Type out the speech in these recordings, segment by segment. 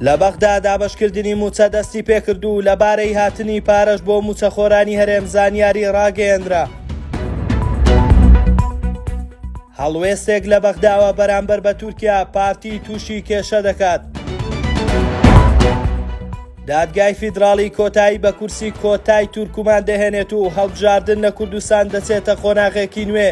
لە بەغدا دابەشکردنی مووچە دەستیپێکرد و لەبارەی هاتنی پارەش بۆ مووچەخۆرانی هەرێم زانیاری ڕاگەیەنرا. هەڵوێستێک لە بەغداوە بەرامبەر بە تورکیا پارتی تووشی کێشە دەکات. دادگای فیدراڵی کۆتایی بە کورسی کۆتای تورکمان دەهێنێت و هەڵبژاردن لە کوردستان دەچێتە قۆناغێکی نوێ.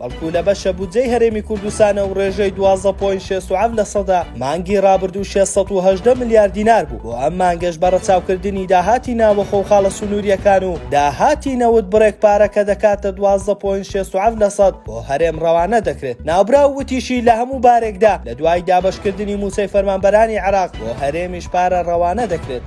بەڵکو لە بەشە بودجەی هەرێمی کوردستانە و ڕێژەی دوازدە پۆین شێست و حەفت لە سەدا مانگی ڕابردوو شێست سەد و هەژدە ملیار دینار بوو بۆ ئەم مانگەش بە ڕەچاوکردنی داهاتی ناوەخۆ و خاڵە سنوورییەکان و داهاتی نەوت بڕێک پارە کە دەکاتە دوازدە پۆین شێست و حەفت لە سەد بۆ هەرێم ڕەوانە دەکرێت ناوبراو وتیشی لە هەموو بارێکدا لە دوای دابەشکردنی مووچەی فەرمانبەرانی عێراق بۆ هەرێمیش پارە ڕەوانە دەکرێت.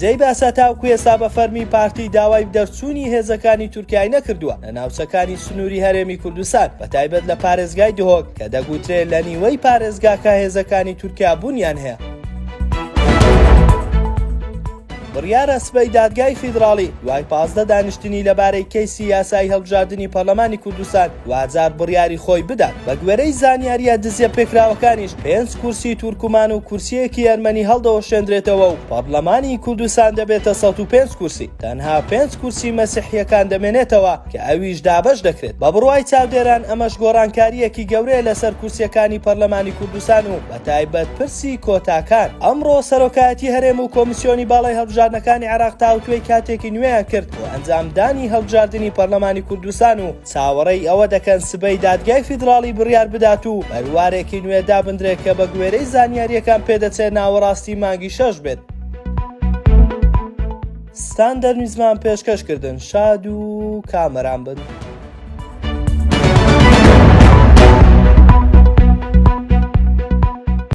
جێی باسە تاوکو ئێستا بە فەرمی پارتی داوای دەرچوونی هێزەکانی تورکیای نەکردووە لە ناوچەکانی سنووری هەرێمی کوردستان بە تایبەت لە پارێزگای دهۆک کە دەگوترێ لە نیوەی پارێزگاکە هێزەکانی تورکیا بوونیان هەیە. بڕیارە سبەی دادگای فیدراڵی دوای پازدە دانیشتنی لەبارەی کەیسی یاسایی هەڵبژاردنی پەرلەمانی کوردستان، دواجار بڕیاری خۆی بدات، بەگوێرەی زانیارییە دزییە پێکراوەکانیش پێنج کورسی تورکمان و کورسییەکی ئەرمەنی هەڵدەوەشێندرێتەوە و پەڕلەمانی کوردستان دەبێتە سەد و پێنج کورسی، تەنها پێنج کورسی مەسیحییەکان دەمێنێتەوە کە ئەویش دابەش دەکرێت، بە بڕوای چاودێران ئەمەش گۆڕانکارییەکی گەورەیە لەسەر کورسییەکانی پەرلەمانی کوردستان و بەتایبەت پرسی کۆتاکان. ئەمڕۆ سەرۆکایەتی هەرێم و کۆمیسیۆنی باڵای هەڵبژاردنەکانی عێراق تاوتوێی کاتێکی نوێیان کرد بۆ ئەنجامدانی هەڵبژاردنی پەرلەمانی کوردستان و چاوەڕێی ئەوە دەکەن سبەی دادگای فیدراڵی بڕیار بدات و بەروارێکی نوێ دابندرێت کە بەگوێرەی زانیارییەکان پێدەچێت ناوەڕاستی مانگی شەش بێت. ستاندەر نیوزمان پێشکەش کردن شاد و کامەران بن.